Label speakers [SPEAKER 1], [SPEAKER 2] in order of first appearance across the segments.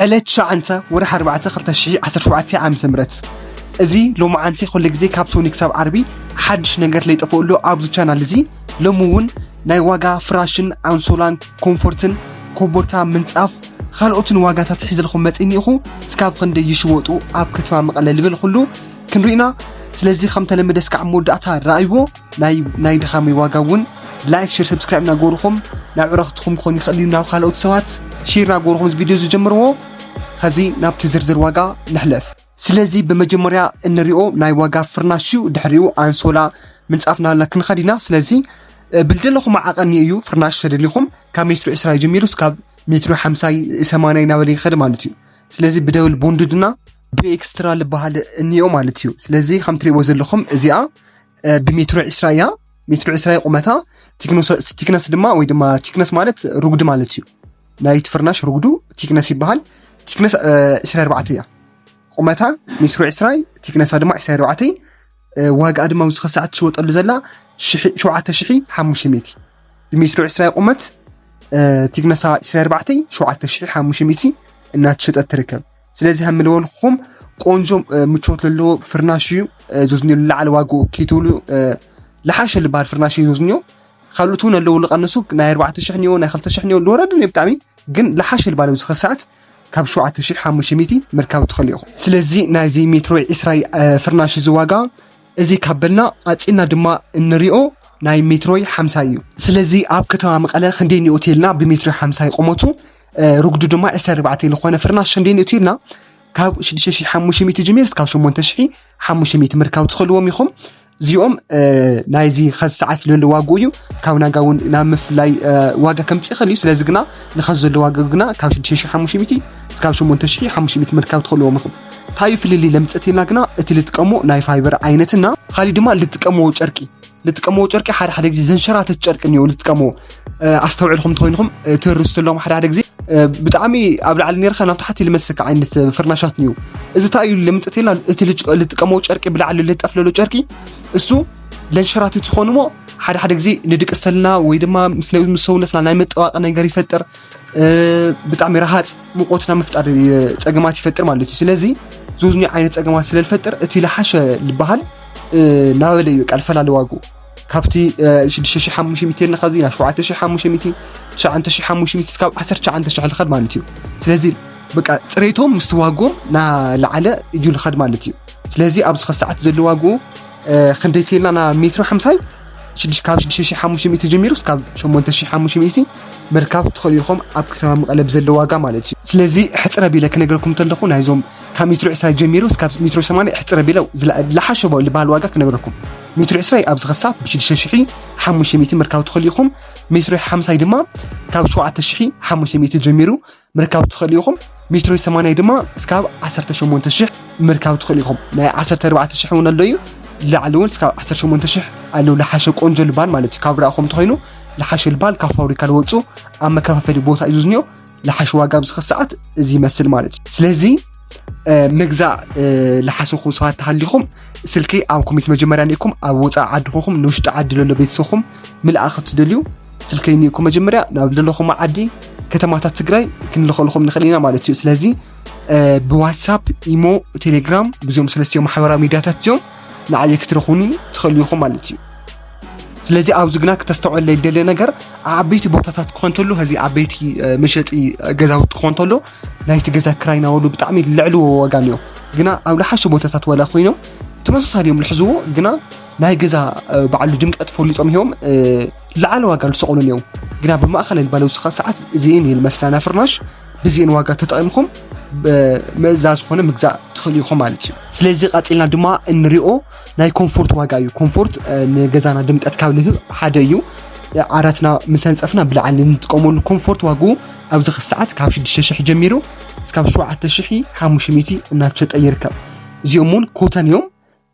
[SPEAKER 1] ዕለት ትሽዓንተ ወርሒ ኣርባዕተ ክልተ ሽሕ ዓሰርተ ሸውዓተ ዓመተ ምህረት እዚ ሎምዓንቲ ኩሉ ግዜ ካብ ሶኒ ክሳብ ዓርቢ ሓድሽ ነገር ለይጠፍኦሎ ኣብዚ ቻናል እዚ ሎሚ እውን ናይ ዋጋ ፍራሽን ኣንሶላን ኮምፎርትን ኮቦርታ ምንጻፍ ካልኦትን ዋጋታት ሒዘልኩም መጺኒ ኢኹ እስካብ ክንደይ ይሽወጡ ኣብ ከተማ መቐለ ልበልኩሉ ክንሪኢና ስለዚ ከም ተለመደ እስካዕ መወዳእታ ረኣይዎ ናይ ድኻመይ ዋጋ እውን ላይክ ሼር ሰብስክራይብ እናገበርኹም ናብ ዕረኽትኹም ክኾን ይኽእል እዩ ናብ ካልኦት ሰባት ሼር እናገበርኹም እዚ ቪድዮ ዝጀምርዎ ከዚ ናብቲ ዝርዝር ዋጋ ንሕለፍ ስለዚ ብመጀመርያ እንሪኦ ናይ ዋጋ ፍርናሽ እዩ ድሕሪኡ ኣንሶላ ምንፃፍ ናልና ክንኸድ ኢና ስለዚ ብልደለኹም ዓቐን እዩ ፍርናሽ ተደሊኹም ካብ ሜትሮ 20 ጀሚሩ እስካብ ሜትሮ 50 80 እናበለ ይኸድ ማለት እዩ ስለዚ ብደብል ቦንድድና ብኤክስትራ ዝበሃል እኒኦ ማለት እዩ ስለዚ ከምትሪእዎ ዘለኹም እዚኣ ብሜትሮ ዕስራ እያ ሜትሮ ዕስራ እያ ቁመታ ቲክነስ ድማ ወይ ድማ ቲክነስ ማለት ርጉዲ ማለት እዩ ናይቲ ፍርናሽ ርጉዱ ቲክነስ ይበሃል ቲክነስ ዕስራ ኣርባዕተ እያ ቁመታ ሜትሮ ዕስራይ ቲክነሳ ድማ ዕስራ ኣርባዕተይ ዋጋኣ ድማ ኣብዚ ክሳዕ ትሽወጠሉ ዘላ ሸውዓተ ሽሒ ሓሙሽተ ሚእቲ ብሜትሮ ዕስራ ቁመት ቲክነሳ ዕስራ ኣርባዕተይ ሸውዓተ ሽሒ ሓሙሽተ ሚእቲ እናተሸጠት ትርከብ ስለዚ ከም ልበልኩም ቆንጆ ምቾት ዘለዎ ፍርናሽ እዩ ዞዝኞ ልላዓለ ዋግኡ ከይትብሉ ልሓሸ ልበሃል ፍርናሽ እዩ ዞዝኞ ካልኦት እውን ኣለዉ ልቐንሱ ናይ ኣርባዕተ ሽሕ ኒዮ ናይ ክልተ ሽሕ ኒዮ ልወረደ ኒዮ ብጣዕሚ ግን ልሓሸ ልበሃል ኣብዚ ኸዚ ሰዓት ካብ ሸውዓተ ሽሕ ሓሙሽተ ሚእቲ ምርካብ ትኽእሉ ኢኹም ስለዚ ናይዚ ሜትሮ ዒስራ ፍርናሽ እዚ ዋጋ እዚ ካብ በልና ኣፅና ድማ እንሪኦ ናይ ሜትሮይ ሓምሳ እዩ ስለዚ ኣብ ከተማ መቐለ ክንደይ ኒኦት የልና ብሜትሮይ ሓምሳ ይቆመቱ ርጉዱ ድማ ዕስራ ኣርባዕተ ዝኾነ ፍርናሽ ክንደይ ንእቱ ኢልና ካብ 6500 ጅሚር እስካብ 8500 ምርካብ ትኽእልዎም ኢኹም እዚኦም ናይዚ ኸዚ ሰዓት ዘሎ ዋግኡ እዩ ካብ ናጋ እውን ናብ ምፍላይ ዋጋ ከምፅ ይኽእል እዩ ስለዚ ግና ንኸዚ ዘሎ ዋጋ ግና ካብ 6500 እስካብ 8500 ምርካብ ትኽእልዎም ኢኹም እንታይ ፍልልይ ለምፀት ኢልና ግና እቲ ልጥቀሞ ናይ ፋይበር ዓይነትና ካሊእ ድማ ልጥቀሞ ጨርቂ ንጥቀመዎ ጨርቂ ሓደ ሓደ ግዜ ዘንሸራተት ጨርቂ እኒኦ ንጥቀመዎ ኣስተውዕልኩም እንተኮይንኩም ትርሱ ኣለኹም ሓደ ሓደ ግዜ ብጣዕሚ ኣብ ላዕሊ ነርካ ናብ ታሕቲ ልመልሰካ ዓይነት ፍርናሻት እዩ እዚ እንታይ እዩ ለምፅት የላ እቲ ልጥቀመዎ ጨርቂ ብላዕሊ ልጠፍለሎ ጨርቂ እሱ ለንሸራትት ይኾን እሞ ሓደ ሓደ ግዜ ንድቂ ስተልና ወይ ድማ ምስ ሰውነትና ናይ መጠዋቂ ነገር ይፈጥር ብጣዕሚ ረሃፅ ሙቆትና ምፍጣር ፀገማት ይፈጥር ማለት እዩ ስለዚ ዝውዝኒ ዓይነት ፀገማት ስለልፈጥር እቲ ልሓሸ ልበሃል ናበለ እዩ ቃል ፈላሊ ዋግኡ ካብቲ 6500 ንኸዚ ናብ 7500 9500 እስካብ 19000 ልኸድ ማለት እዩ ስለዚ በቃ ፅሬቶም ምስቲ ዋግኦም ናላዓለ እዩ ልኸድ ማለት እዩ ስለዚ ኣብዚ ከሰዓት ዘሎ ዋግኡ ክንደይ ተልና ና ሜትሮ ሓምሳይ ካብ 6500 ጀሚሩ እስካብ 8500 ምርካብ ትኽእሉ ኢኹም ኣብ ከተማ መቐለ ብዘለ ዋጋ ማለት እዩ ስለዚ ሕፅረ ቢለ ክነገረኩም እንተለኹ ናይዞም ካብ ሚትሮ ዕስራ ጀሚሩ እስካብ ሚትሮ ሰማንያ ኣሕፅር ኣቢለ ዝለሓሸ ዝበሃል ዋጋ ክነግረኩም ሚትሮ ዕስራይ ኣብዚ ክሳብ ብሽዱሽተ ሽሒ ሓሙሽተ ሚእቲ ምርካብ ትኽእሉ ኢኹም ሚትሮ ሓምሳይ ድማ ካብ ሸውዓተ ሽሒ ሓሙሽተ ሚእቲ ጀሚሩ ምርካብ ትኽእሉ ኢኹም ሚትሮ ሰማንያ ድማ እስካብ ዓሰርተ ሸሞንተ ሽሕ ምርካብ ትኽእሉ ኢኹም ናይ ዓሰርተ ኣርባዕተ ሽሕ እውን ኣሎ እዩ ላዕሊ እውን እስካብ ዓሰርተ ሸሞንተ ሽሕ ኣለዉ ልሓሸ ቆንጆ ልባል ማለት እዩ ካብ ርኣኹም ተኮይኑ ልሓሸ ልባል ካብ ፋብሪካ ዝወፁ ኣብ መከፋፈሊ ቦታ እዩ ዝዝኒኦ ልሓሽ ዋጋ ኣብዚ ሰዓት እዚ ይመስል ማለት እዩ ስለዚ ምግዛእ ልሓሰኹም ሰባት ተሃሊኹም ስልኪ ኣብ ኮሚት መጀመርያ ኒኢኩም ኣብ ወፃኢ ዓዲ ኮኹም ንውሽጢ ዓዲ ለሎ ቤተሰብኩም ምልኣ ክትደልዩ ስልኪ ኒኢኩም መጀመርያ ናብ ዘለኹም ዓዲ ከተማታት ትግራይ ክንልኸልኹም ንኽእል ኢና ማለት እዩ ስለዚ ብዋትሳፕ ኢሞ ቴሌግራም ብዞም ሰለስትዮ ማሕበራዊ ሚዲያታት እዚኦም ንዓየ ክትረኹኒ ትኽእሉ ኢኹም ማለት እዩ ስለዚ ኣብዚ ግና ክተስተውዕል ደሊ ነገር ዓበይቲ ቦታታት ክኾን ተሎ እዚ ዓበይቲ መሸጢ ገዛውቲ ክኾን ተሎ ናይቲ ገዛ ክራይ ናበሉ ብጣዕሚ ልዕልዎ ዋጋ እኒኦ ግና ኣብ ልሓሸ ቦታታት ዋላ ኮይኖም ተመሳሳሊ እዮም ልሕዝዎ ግና ናይ ገዛ በዓሉ ድምቀት ፈሊጦም እዮም ልዓለ ዋጋ ዝሰቕሉ እዮም ግና ብማእኸል ባለው ሰዓት እዚን ይል መስላና ፍርናሽ ብዚን ዋጋ ተጠቒምኩም መዛ ዝኾነ ምግዛእ ትኽእሉ ኢኹም ማለት እዩ ስለዚ ቐፂልና ድማ እንሪኦ ናይ ኮምፎርት ዋጋ እዩ ኮምፎርት ንገዛና ድምቀት ካብ ልህብ ሓደ እዩ ዓራትና ምስ ኣንፀፍና ብላዕሊ ንጥቀመሉ ኮምፎርት ዋግኡ ኣብዚ ክሰዓት ካብ 6,000 ጀሚሩ እስካብ 7,500 እናተሸጠ ይርከብ እዚኦም እውን ኮተን እዮም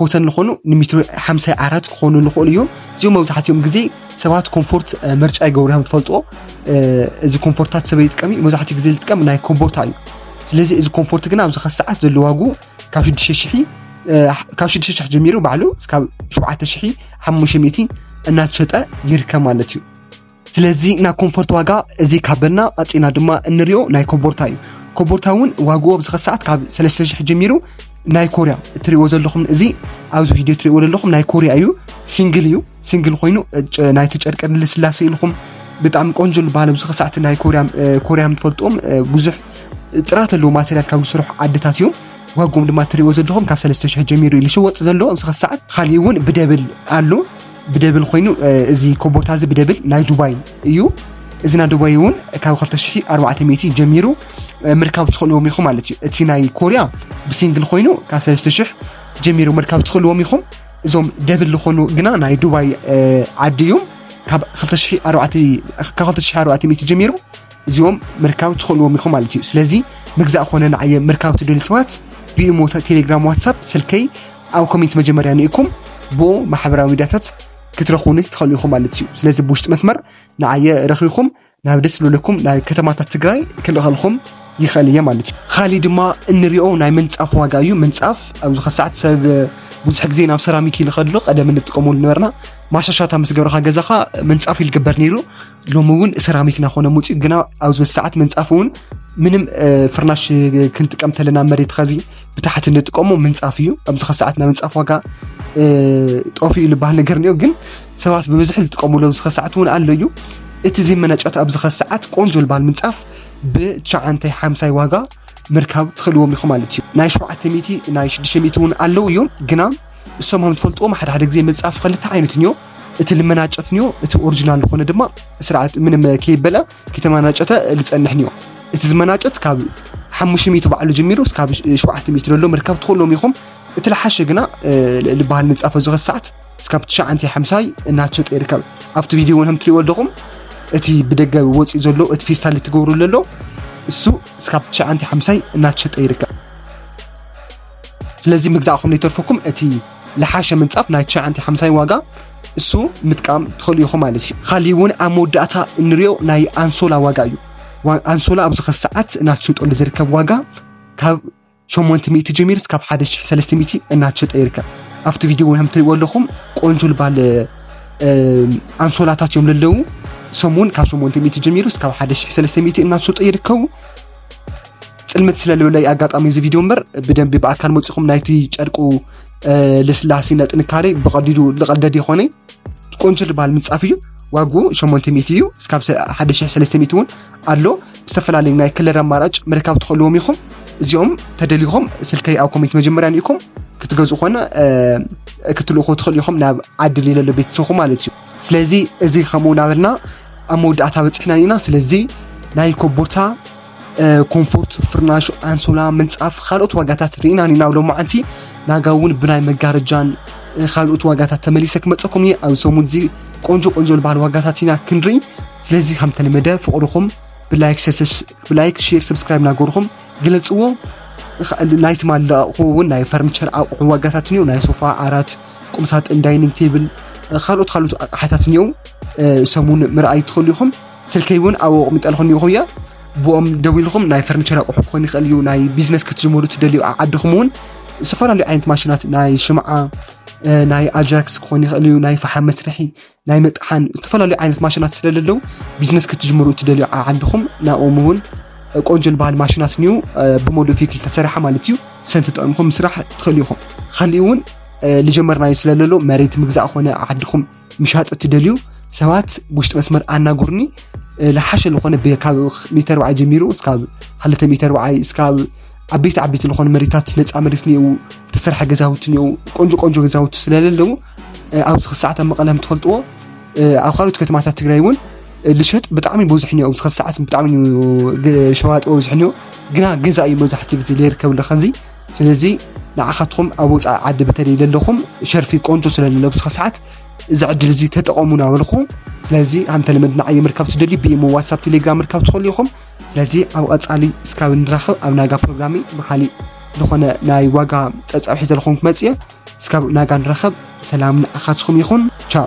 [SPEAKER 1] ኮተን ዝኾኑ ንሜትሮ 50 ዓራት ክኾኑ ዝኽእሉ እዮም እዚኦም መብዛሕትኦም ግዜ ሰባት ኮምፎርት ምርጫ ይገብሩ እዮም ትፈልጦ እዚ ኮምፎርታት ሰበይ ይጥቀም እዩ መብዛሕትኡ ግዜ ዝጥቀም ናይ ኮቦርታ እዩ ስለዚ እዚ ኮምፎርት ግን ኣብዚ ክሰዓት ዘለዋጉ ካብ ሽዱሽተ ሽሒ ካብ ሽዱሽተ ሽሕ ጀሚሩ ባዕሉ እስካብ ሸውዓተ ሽሒ ሓሙሽተ ሚእቲ እናተሸጠ ይርከብ ማለት እዩ ስለዚ ናይ ኮንፎርት ዋጋ እዚ ካበልና ኣፅና ድማ እንሪኦ ናይ ኮቦርታ እዩ ኮቦርታ እውን ዋግኡ ኣብዚ ከሰዓት ካብ ሰለስተ ሽሕ ጀሚሩ ናይ ኮርያ እትሪእዎ ዘለኹም እዚ ኣብዚ ቪድዮ እትሪእዎ ዘለኹም ናይ ኮርያ እዩ ሲንግል እዩ ሲንግል ኮይኑ ናይቲ ጨርቂ ልስላሴ ኢልኹም ብጣዕሚ ቆንጆ ዝበሃል ኣብዚ ከሰዓት ናይ ኮርያ ኮርያም ትፈልጥዎም ብዙሕ ጥራት ዘለዎ ማተርያል ካብ ዝስርሑ ዓድታት እዮም ዋጎም ድማ እትሪእዎ ዘለኹም ካብ 3,000 ጀሚሩ እዩ ዝሽወጥ ዘሎ ኣብዚ ክሳዕ ካሊእ እውን ብደብል ኣሎ ብደብል ኮይኑ እዚ ኮቦርታ እዚ ብደብል ናይ ዱባይ እዩ እዚ ናይ ዱባይ እውን ካብ 2400 ጀሚሩ ምርካብ ትኽእልዎም ኢኹም ማለት እዩ እቲ ናይ ኮርያ ብሲንግል ኮይኑ ካብ 3000 ጀሚሩ ምርካብ ትኽእልዎም ኢኹም እዞም ደብል ዝኾኑ ግና ናይ ዱባይ ዓዲ እዮም ካብ 2400 ጀሚሩ እዚኦም ምርካብ ትኽእልዎም ኢኹም ማለት እዩ ስለዚ ምግዛእ ኮነ ንዓየ ምርካብ ትደልዩ ሰባት ብኢሞ ቴሌግራም ዋትሳፕ ስልከይ ኣብ ኮሜንት መጀመርያ ንኢኩም ብኡ ማሕበራዊ ሚዲያታት ክትረኽቡኒ ትኽእሉ ኢኹም ማለት እዩ ስለዚ ብውሽጢ መስመር ንዓየ ረኺብኩም ናብ ደስ ዝብለኩም ናይ ከተማታት ትግራይ ክልእኸልኩም ይኽእል እየ ማለት እዩ ካሊእ ድማ እንሪኦ ናይ ምንፃፍ ዋጋ እዩ ምንፃፍ ኣብ ዝኸ ሰዓት ሰብ ብዙሕ ግዜ ናብ ሰራሚክ ይልኸድሎ ቀደም እንጥቀመሉ ነበርና ማሻሻታ ምስ ገብረኻ ገዛኻ ምንፃፍ ይልግበር ነይሩ ሎሚ እውን ሰራሚክ ናኾነ ሙፅኡ ግና ኣብ ዝበስ ሰዓት ምንፃፍ እውን ምንም ፍርናሽ ክንጥቀም ተለና መሬት ኸዚ ብታሕቲ ንጥቀሞ ምንፃፍ እዩ ኣብዚ ኸ ሰዓት ናብ ምንፃፍ ዋጋ ጠፊ እዩ ዝበሃል ነገር እኒኦ ግን ሰባት ብብዝሒ ዝጥቀምሉ ኣብዚ ኸ ሰዓት እውን ኣሎ እዩ እቲ ዘይመናጨት ኣብዚ ኸ ሰዓት ቆንጆ ዝበሃል ምንፃፍ ብቻዓንታይ ሓምሳይ ዋጋ ምርካብ ትኽእልዎም ኢኹም ማለት እዩ ናይ ሸውዓተ ሚእቲ ናይ ሽዱሽተ ሚእቲ እውን ኣለዉ እዮም ግና እሶም ከም ትፈልጥዎም ሓደ ሓደ ግዜ መጽሐፍ ክልተ ዓይነት እንዮ እቲ ልመናጨት እንዮ እቲ ኦሪጂናል ዝኾነ ድማ ስርዓት ምንም ከይበለ ከተመናጨተ ልጸንሕ እንዮ እቲ ዝመናጨት ካብ ሓሙሽተ ሚእቲ ባዕሉ ጀሚሩ እስካብ ሸውዓተ ሚእቲ ዘሎ ምርካብ ትኽእሎም ኢኹም እቲ ልሓሸ ግና ልበሃል መጽሐፍ ኣብዚ ሰዓት እስካብ ትሽዓንተ ሓምሳይ እናተሸጠ ይርከብ ኣብቲ ቪድዮ እውን ከም ትሪእዎ ኣለኹም እቲ ብደገ ወፂኡ ዘሎ እቲ ፌስታል ትገብሩ ዘሎ እሱ እስካብ ትሽዓንተ ሓምሳይ እናተሸጠ ይርከብ ስለዚ ምግዛእኹም ዘይተርፈኩም እቲ ልሓሸ ምንፃፍ ናይ ትሽዓንተ ሓምሳይ ዋጋ እሱ ምጥቃም ትኽእሉ ኢኹም ማለት እዩ ካሊእ እውን ኣብ መወዳእታ እንሪኦ ናይ ኣንሶላ ዋጋ እዩ ኣንሶላ ኣብዚ ኸ ሰዓት እናተሸጠሉ ዝርከብ ዋጋ ካብ 800 ጀሚር እስካብ 1300 እናተሸጠ ይርከብ ኣብቲ ቪድዮ ከም ትሪእዎ ኣለኹም ቆንጆ ልባል ኣንሶላታት እዮም ለለዉ ሰሙን ካብ 800 ጀሚሩ እስካብ 1300 እናተሸጡ ይርከቡ ፅልምት ስለልብለይ ኣጋጣሚ እዚ ቪድዮ እምበር ብደንቢ ብኣካል መፅኹም ናይቲ ጨርቁ ልስላሴና ጥንካሬ ብቐዲዱ ልቐልደድ ይኾነ ቆንጆ ዝበሃል ምንፃፍ እዩ ዋጉ 800 እዩ እስካብ 1300 እውን ኣሎ ዝተፈላለዩ ናይ ክለር ኣማራጭ ምርካብ ትኽእልዎም ኢኹም እዚኦም ተደሊኹም ስልከይ ኣብ ኮሜንት መጀመርያ ኒኢኩም ክትገዝኡ ኮነ ክትልእኹ ትኽእሉ ኢኹም ናብ ዓዲ ሌለሎ ቤተሰኹ ማለት እዩ ስለዚ እዚ ከምኡ ናበልና ኣብ መወዳእታ በፂሕና ኢና ስለዚ ናይ ኮቦርታ ኮምፎርት ፍርናሽ ኣንሶላ ምንፃፍ ካልኦት ዋጋታት ርኢና ኒና ሎ መዓንቲ ናጋ እውን ብናይ መጋረጃን ካልኦት ዋጋታት ተመሊሰ ክመፀኩም እየ ኣብ ሰሙን እዚ ቆንጆ ቆንጆ ዝበሃል ዋጋታት ኢና ክንርኢ ስለዚ ከምተለመደ ፍቅድኹም ብላይክ ሼር ሰብስክራይብ ናገርኹም ግለፅዎ ናይ ትማሊ ኣቑሑ እውን ናይ ፈርኒቸር ኣቑሑ ዋጋታትን እዩ ናይ ሶፋ ዓራት ቁምሳጥን ዳይኒንግ ቴብል ካልኦት ካልኦት ኣቕሓታት እኒኦ ሰሙን ምርኣይ ትኽእሉ ኢኹም ስልከይ እውን ኣብኡ ኣቕሚጠልኹ እኒኹ እያ ብኦም ደው ኢልኹም ናይ ፈርኒቸር ኣቑሑ ክኾን ይኽእል እዩ ናይ ቢዝነስ ክትጅምሩ ትደልዩ ዓድኹም እውን ዝተፈላለዩ ዓይነት ማሽናት ናይ ሽምዓ ናይ ኣጃክስ ክኾን ይኽእል እዩ ናይ ፈሓም መስርሒ ናይ ምጥሓን ዝተፈላለዩ ዓይነት ማሽናት ስለ ዘለዉ ቢዝነስ ክትጅምሩ እትደልዩ ዓድኹም ናብኦም እውን ቆንጆ ዝበሃል ማሽናት ኒው ብሞዶ ፊክል ተሰራሓ ማለት እዩ ሰን ተጠቕምኩም ምስራሕ ትኽእሉ ኢኹም ካሊእ እውን ልጀመርናዩ ስለ ዘሎ መሬት ምግዛእ ኮነ ዓድኹም ምሻጥ እትደልዩ ሰባት ውሽጢ መስመር ኣናጉርኒ ልሓሸ ዝኾነ ካብ ሚተር ወዓይ ጀሚሩ እስካብ ሃለተ ሚተር ወዓይ እስካብ ዓበይቲ ዓበይቲ ዝኾኑ መሬታት ነፃ መሬት እኒአው ተሰርሐ ገዛውቲ እኒአው ቆንጆ ቆንጆ ገዛውቲ ስለለለዉ ኣብዚ ክሰዓት ኣብ መቐለ ትፈልጥዎ ኣብ ካልኦት ከተማታት ትግራይ እውን ልሸጥ ብጣዕሚ ብዙሕ እኒኦ ኣብዚ ክሰዓት ብጣዕሚ ሸዋጥ ብዙሕ እኒኦ ግና ገዛ እዩ መብዛሕትኡ ግዜ ዘይርከብ ኣሎ ከዚ ስለዚ ንዓኻትኩም ኣብ ወፃኢ ዓዲ በተለይ ዘለኹም ሸርፊ ቆንጆ ስለለሎ ኣብዚ ክሰዓት እዚ ዕድል እዚ ተጠቐሙና በልኹ ስለዚ ኣንተ ልመድና ዓየ ምርካብ ትደልዩ ብኢሞ ዋትሳፕ ቴሌግራም ምርካብ ትኽእሉ ኢኹም ስለዚ ኣብ ቐጻሊ እስካብ ንራኸብ ኣብ ናጋ ፕሮግራሚ ብካሊእ ዝኾነ ናይ ዋጋ ጸብጻብ ሒዘልኹም ክመጽእ እስካብ ናጋ ንራኸብ ሰላም ንዓኻትኩም ይኹን ቻው